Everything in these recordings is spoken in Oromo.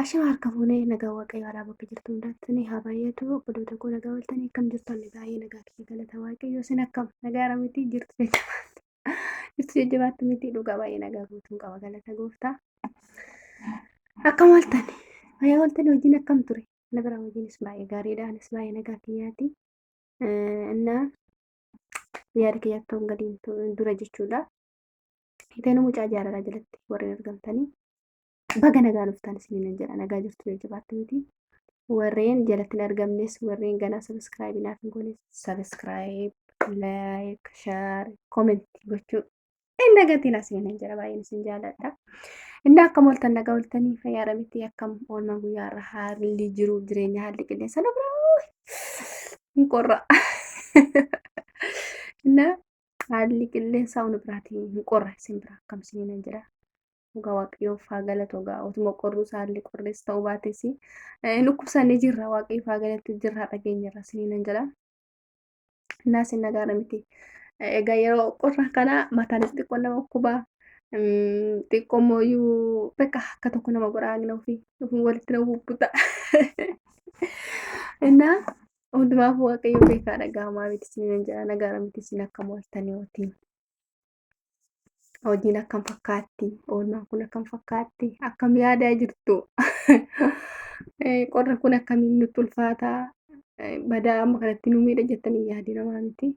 Ashama harka fuunee nagaa waaqayyo alaa bakka jirtu hundaatti ni haa baay'atu obboloota koo nagaa waltanii akkam jirtan baay'ee nagaa kee galata waaqayyo isin akkam nagaa irra miti jirtu jajjabaatti jirtu jajjabaatti miti dhugaa baay'ee nagaa guutuun qaba galata gooftaa akkam waltan fayyaa waltan hojiin akkam ture na bira hojiinis baay'ee gaariidha anis baay'ee nagaa kiyyaati innaa yaada kiyyaatti hongaliin dura jechuudha Fiiteenuu mucaa jaalalaa jalatti warreen argamtanii baga nagaa dhuftan isiniin jedha nagaa jirtu jajjabaatti miti. Warreen jalatti hin argamnes warreen ganaa sabiskiraayibii naaf hin goones sabiskiraayib, laayik, shaar, koomenti gochuu hin dagatiin isiniin jedha baay'een isin jaaladha. Inni akkam ooltan nagaa ooltanii fayyaadha miti akkam oolmaa guyyaa irra haalli jiru jireenya haalli qilleensa lafa hin qorra. Innaa haalli qilleensaa hunda biraatiin hin qorra isin bira akkam isiniin jira. Dhugaa waaqayyoof haa galatu egaa otuma qorruu isaallee qorrees ta'uu baates dhukkubsannee jirra waaqayyoof haa galatu jirra dhageenyarra isiniin jira. Innaa isin nagaara miti. Egaa yeroo qorra kana mataanis xiqqoo nama dhukkubaa xiqqoo mooyyuu bakka akka tokko nama godhaa agna ofii walitti nama bubbuta. Innaa Hundumaaf waaqayyo beekaa dhagaa maalitti isiniin jedha nagaara miti isin akkam ooltanii hojii. Hojiin akkam fakkaatti oolmaan kun akkam fakkaatti akkam yaadaa jirtu qorri kun akkamiin nutti ulfaataa badaa amma kanatti nu miidha jettanii yaadii namaa miti.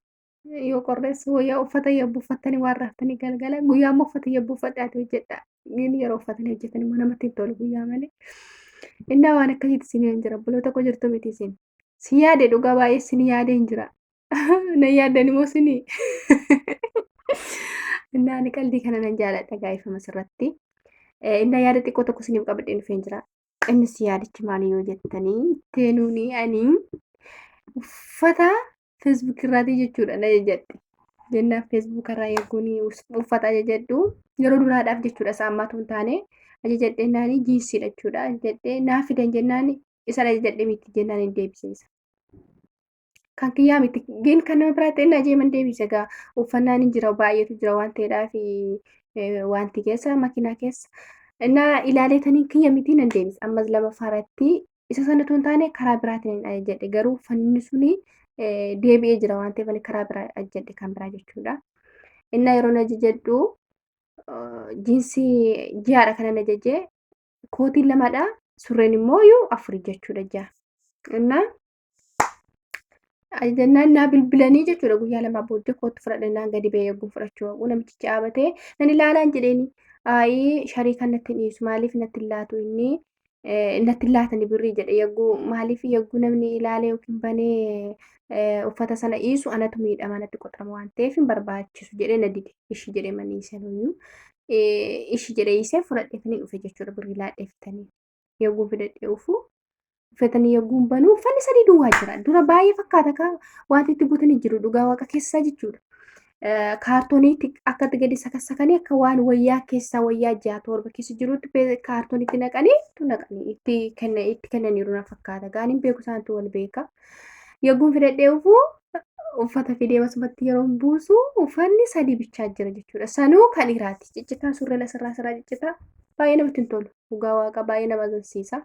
yoo qorreessu wayyaa uffata yabbu uffattanii waan raaftanii galgala guyyaa immoo uffata yabbu uffadhaati hojjedha inni yeroo uffatanii hojjetan immoo namatti hin tolu guyyaa malee innaa waan akkasiitti isin hin jira buloota koo jirtu miti isin si yaade dhugaa baay'ee isin yaade hin jira na yaaddan immoo isin innaa ani qaldii kana nan jaaladha gaa'ifama sirratti innaa yaada xiqqoo tokko isiniif qabadhee dhufee hin jira innis yaadichi maali yoo jettanii teenuuni ani uffata feesbuuk irraatii jechuudha na jajadhe jennaan feesbuuk irraa erguun uffata ajajadhu yeroo duraadhaaf jechuudha isaa ammaatu hin taane ajajadhe naani jiinsiidha jechuudha ajajadhe naa fidan jennaan isan ajajadhe miti jennaan hin deebisiisa. Kan kiyyaa miti gin kan nama biraatti inni ajeeman deebisa egaa uffannaan hin jira baay'eetu jira waan ta'eedhaaf wanti keessa makiinaa keessa. Innaa ilaaleetaniin kiyya miti nan deebisa ammas lama faaratti isa sana tun taane karaa biraatiin hin ajajadhe garuu uffanni suni deebi'ee jira waan ta'eef ani karaa biraa ajajadhe kan biraa jechuudha. Innaa yeroo na ajajadhu jiinsii ji'aadha kanan ajaje kootiin lamadha surreen immoo yoo afur jechuudha ji'a. Innaa ajajannaan naa bilbilanii jechuudha guyyaa lamaa booddee kootu fudhadhannaan gadi ba'ee eeguun fudhachuu haquu namichi caabatee nan ilaalaan jedheeni. Aayii sharii kan natti dhiisu maaliif natti laatu inni natti laatani birrii jedhe yagguu maaliif yagguu namni ilaalee yookiin banee uffata sana dhiisu anatu miidhama natti qoxama waan ta'eef hin barbaachisu jedhee na dide ishi jedhee manii isanuyyuu ishi jedhee isee fudhadheetanii dhufe jechuudha birrii laadheefitanii yagguu fidadhee ufuu uffatanii yagguun banuu uffanni sadii duwwaa jira dura baay'ee fakkaata kaa wanti itti guutanii jiru dhugaa waaqa keessaa jechuudha kaartooniitti akkatti gadi sakassakanii akka waan wayyaa keessaa wayyaa ja'a torba keessa jirutti kaartooniitti naqanii tu naqanii itti kenna itti kennaniiru na fakkaata gaaniin beeku isaantu wal beeka yogguun fidadhee ufu uffata fidee basumatti yeroo buusu uffanni sadii bichaa jira jechuudha sanuu kan dhiiraati ciccitaa surree lasirraa sirraa ciccitaa baay'ee namatti hin tolu dhugaa waaqa baay'ee nama agarsiisa.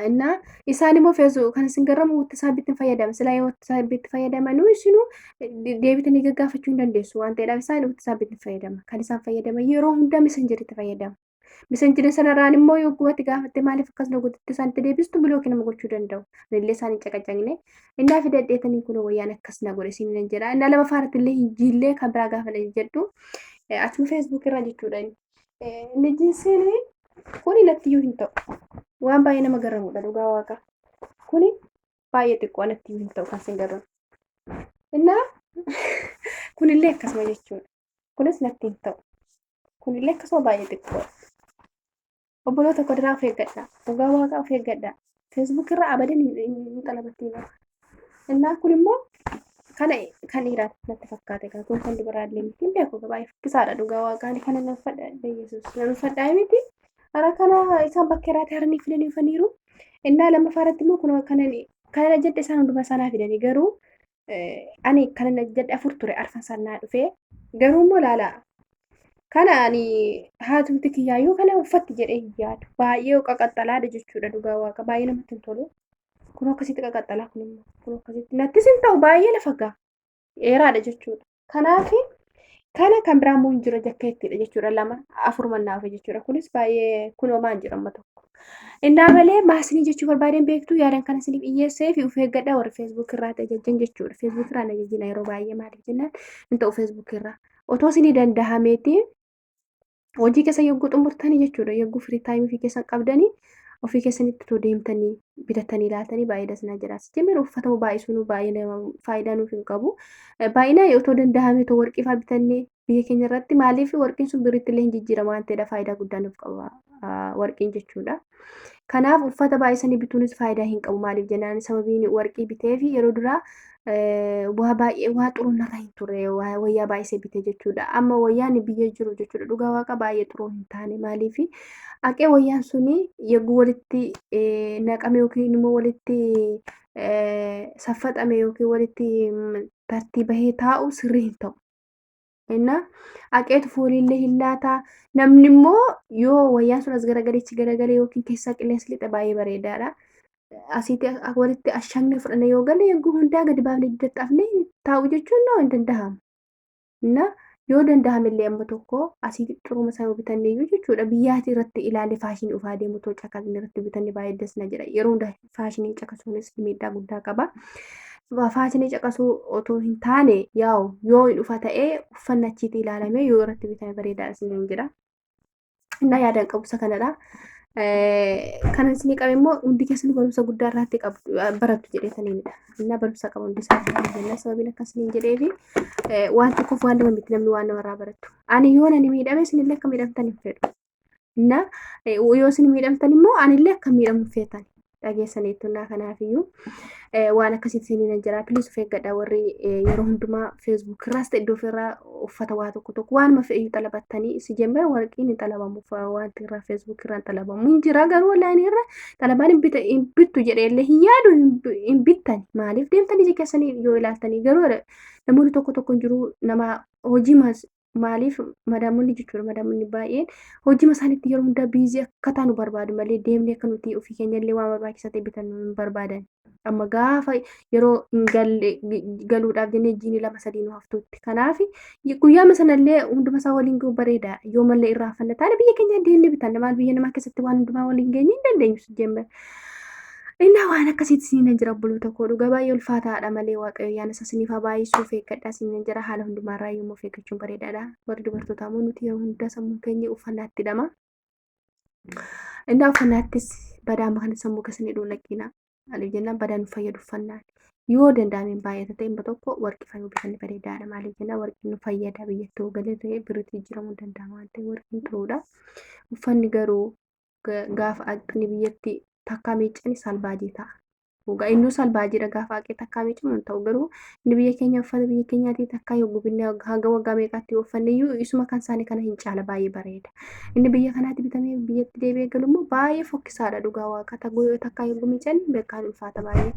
እና isaan immoo feesu kan isin garramu wattasaabbiitti hin fayyadaman silaa yoo wattasaabbiitti fayyadamanuu isinuu deebitanii gaggaafachuu hin dandeessu waan ta'eedhaaf isaan wattasaabbiitti hin fayyadaman kan isaan fayyadaman yeroo hundaa misanjiritti fayyadamu misanjiri sanarraan immoo yoo gubatti gaafatte maaliif akkas na godhatte isaanitti deebistu bilooki nama gochuu danda'u illee isaan hin caqacaqne innaa fi dadheetanii kun wayyaan akkas na godhe isin hin jedha innaa lama faaratti illee hin jiillee kan biraa gaafa na jedhu achuma feesbuuk irraa jechuudha inni. Nijiisiin kuni nattiyyuu hin ta'u. Waan baay'ee nama garramudha dhugaa waaqa. Kuni baay'ee xiqqoo nattiyyuu hin ta'u kan sin garramu. Innaa kunillee akkasuma jechuudha. Kunis natti hin ta'u. Kunillee akkasuma baay'ee xiqqoodha. Obboloota koo diraa of eeggadhaa. Dhugaa waaqaa of eeggadhaa. Feesbuuk irra abadin hin- hin hin xalabattii bara. Innaa kun immoo kana kan dhiiraa natti fakkaate kan kun kan dubaraa illee miti. Hin beeku baay'ee fokkisaadha dhugaa waaqaa ani kana nan fadha Yesuus nan fadhaa miti. Hara kana isaan bakka irraatti haranii fidanii dhufaniiru. Innaa lammaffaa irratti immoo kun kanan kana jedhe isaan hundumaa isaanaa fidanii garuu ani kana na jedhe afur ture arfan san naa dhufee garuu immoo laalaa kana ani haatumti kiyyaayyuu kana uffatti jedhee hin yaadu baay'ee qaqaxxalaadha jechuudha dhugaa waaqa baay'ee namatti hin tolu kun akkasitti qaqaxxalaa kun immoo kun akkasitti nattis hin ta'u baay'ee lafa gaa dheeraadha jechuudha Kanaaf kana kan biraa immoo hin jira jakkeettidha jechuudha lama afur mannaafe jechuudha kunis baay'ee kunoo maan jira amma tokko. Innaa malee maasinii jechuu barbaadeen beektu yaadan kana isiniif dhiyyeessee fi of eeggadha warri feesbuuk irraa tajaajilan jechuudha. Feesbuuk irraa na jajjina yeroo baay'ee maaliif jennaan hin ta'u feesbuuk irraa. Otoo isinii danda'ameeti hojii keessa yogguu xumurtanii jechuudha yogguu firii taayimii ofii keessan qabdanii ofii keessanitti too deemtanii bitatanii laatanii baay'ee dasnaa jira sijjimir uffatamu baay'isuun baay'ee faayidaa nuuf hin qabu baay'inaa otoo danda'ame too warqii faa bitannee biyya keenya irratti maaliif warqiin sun birritti illee hin jijjiirama waan ta'eedha faayidaa guddaa nuuf qaba warqiin jechuudha. Kanaaf uffata baay'isanii bituunis faayidaa hin qabu. Maaliif jennaan sababiin warqii bitee fi yeroo duraa waa baay'ee waa xuruu narra hin turre wayyaa baay'isee bitee jechuudha. Amma wayyaan biyya jiru jechuudha dhugaa waaqa baay'ee xuruu hin taane maaliif aqee wayyaan suni yeroo walitti naqame yookiin immoo walitti saffaxame yookiin walitti tartiibahee taa'u sirrii hin ta'u. Innaa haqeetu fooliillee hin laata. Namni immoo yoo wayyaan sun as garagaleechi garagalee yookiin keessaa qilleensi lixa baay'ee bareedaadha. Asitti walitti ashaakni fudhannee yoo galle yeroo hundaa gadi baafnee dadhabnee taa'u jechuun noo hin danda'amu. Innaa yoo danda'ame illee amma tokko asitti xuruma isaa yoo bitanne iyyuu jechuudha biyyaati irratti ilaalle faashinii ofaa deemu too caqasni irratti bitanne baay'ee das na jedha yeroo hundaa faashinii caqasuunis miidhaa guddaa qaba. Faashinii caqasuu otoo hin taane yaa'u yoo hin dhufa ta'ee uffanna achiitti ilaalamee yoo irratti bitame bareedaadha isiniin jedha. Innaa yaadaan qabumsa kanadha. Kan isinii qabe immoo hundi keessan barumsa guddaa irratti barattu jedhee saniinidha. Innaa barumsa qabu hundi isaanii jennaa sababiin akka isiniin jedheefi waan tokkoof waan lama miti namni waan namarraa barattu. Ani yoo nani miidhame isinillee akka miidhamtan hin fedhu. na yoo isin miidhamtan immoo anillee akka miidhamu feetan dhageessaniittu naa kanaafiyyuu waan akkasitti siniin jira piliis of eeggadha warri yeroo hundumaa feesbuuk irraas ta'e iddoo ofirraa uffata waa tokko tokko waanuma fe'ee xalabattanii si jemmee warqiin hin xalabamu wanti irraa feesbuuk irraa hin xalabamu hin jira garuu onlaayinii irra xalabaan hin bittu jedhee illee hin yaadu hin bittani maaliif deemtanii ija keessanii yoo ilaaltanii garuu namoonni tokko tokko jiru nama hojii maaliif madaamonni jechuudha madaamonni baay'een hojii isaaniitti yeroo hundaa biizii akka taanu barbaadu malee deemnee akka nuti ofii keenya illee waan barbaachisaa ta'e bitannu hin barbaadan. Amma gaafa yeroo hin galle galuudhaaf jennee jiini lama sadii nu haftuutti. Kanaaf guyyaama sanallee hunduma isaa waliin ga'u bareeda. Yoo mallee irraa haffanna taane biyya keenya deemnee bitanna maal biyya namaa keessatti waan hundumaa waliin geenye hin dandeenyu jennee. Innaa waan akkasiitti isiniin jira obboloota koo dhugaa baay'ee ulfaataadha malee waaqayyo ayyaana isaa isiniif haa baay'isuu of eeggadhaa isiniin jira haala hundumaarraa yommuu of eeggachuun bareedaadha warri dubartootaa immoo nuti yeroo hundaa sammuun keenya uffannaatti hidhama innaa uffannaattis badaa makan sammuu keessanii dhuun dhaqiina maaliif jennaan badaan nu fayyadu uffannaan yoo danda'ameen baay'ata ta'e immoo tokko warqii fayyuu bitanni bareedaadha maaliif jennaan warqiin nu fayyada biyyatti hoogalee ta'e birritti jijjiiramuu danda'a waan ta'e warqiin turuudha uffanni garuu gaafa haqni biyyatti takkaa miiccani salbaajii ta'a. Dhugaa innuu salbaajiidha gaafa haqee takkaa miiccamu hin ta'u garuu inni biyya keenya uffata biyya keenyaatii takkaa yoo gubinne hanga waggaa meeqaatti yoo uffanne iyyuu isuma kan isaanii kana hin caala baay'ee bareeda. Inni biyya kanaatti bitamee biyyatti deebi'ee galu immoo baay'ee fokkisaadha dhugaa waaqa takkaa yoo miiccani beekaan ulfaata baay'ee.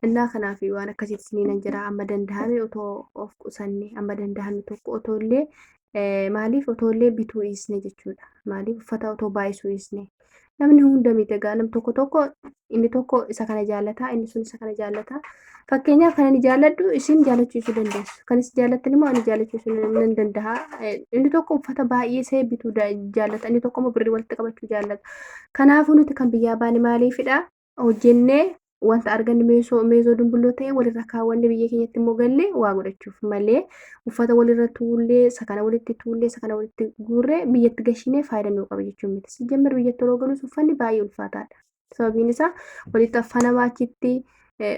Innaa kanaaf waan akkasiitti isiniin jedha amma danda'ame otoo of qusanne amma danda'ame tokko otoo illee Maaliif otoollee bituu dhiisne jechuudha. Maaliif uffata otoo baay'isuu dhiisne. Namni hunda miti egaa nam tokko tokko inni tokko isa kana jaallataa inni sun isa kana jaallataa. Fakkeenyaaf kan ani jaalladhu isin jaallachiisuu dandeessu. Kan isin jaallattan immoo ani jaallachiisuu nan danda'a. Inni tokko uffata baay'isee bituu jaallata inni tokko immoo birrii walitti qabachuu jaallata. Kanaafuu nuti kan biyyaa baane maaliifidha? hojjennee wanta arganne meesoo meesoo dumbulloo ta'e walirra kaawwanne biyya keenyatti immoo gallee waa godhachuuf malee uffata walirra tuullee sakana walitti tuullee sakana walitti guurree biyyatti gashinee faayidaa nuu qaba jechuun miti sijjammer biyyatti yeroo galus uffanni baay'ee ulfaataadha sababiin isaa walitti affanama achitti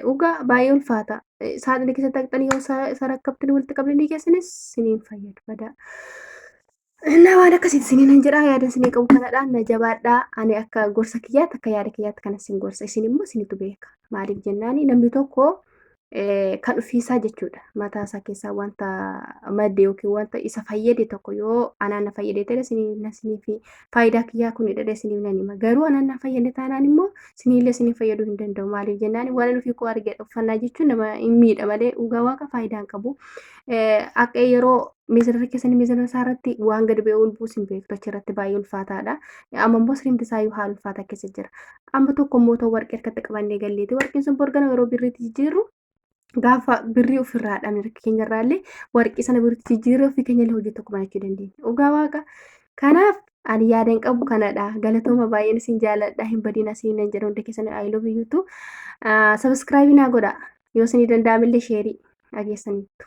dhugaa baay'ee ulfaata saaxina keessa taqxanii yoo sarakkabtanii walitti qabdanii keessanis siniin fayyadu badaa. Innaa waan akkasitti isiniin hin jedhaa yaada isinii qabu kanadha na jabaadhaa ani akka gorsa kiyyaatti akka yaada kiyyaatti kana isin gorsa isin immoo isinitu beeka maaliif jennaani namni tokko eh, kan ofiisaa jechuudha mataa isaa keessaa wanta madde yookiin wanta isa fayyade tokko yoo anaan na fayyade ta'e isiniif na isiniif faayidaa kiyyaa kun hidhadha isiniif nan hima garuu anaan na fayyade taanaan immoo isiniillee isiniif fayyaduu hin danda'u maaliif jennaani waan inni ofii koo argedha uffannaa jechuun nama hin miidha malee dhugaa waaqa faayidaa hin qabu Eh, akka yeroo miizanarra keessanii miizana isaa irratti waan gadi ba'ee ol buusin beektu achi irratti baay'ee ulfaataadha. Amma immoo siriimti isaa iyyuu haala ulfaataa keessa jira. Amma tokko immoo ta'u warqee harkatti qabannee galleeti. Warqeen sun borgana yeroo birriitti jijjiirru gaafa birrii ofirraa dhabne harka keenya irraallee warqee sana birriitti jijjiirree ofii keenya illee hojii tokko banachuu dandeenya. Dhugaa waaqa. Kanaaf ani yaadan qabu kanadha. Galatooma baay'een isin jaaladha. Hin badina siin nan jedha hundi keessan I love you too. Sabiskiraabii naa godha. Yoo isinii danda'amillee sheerii dhageessaniittu.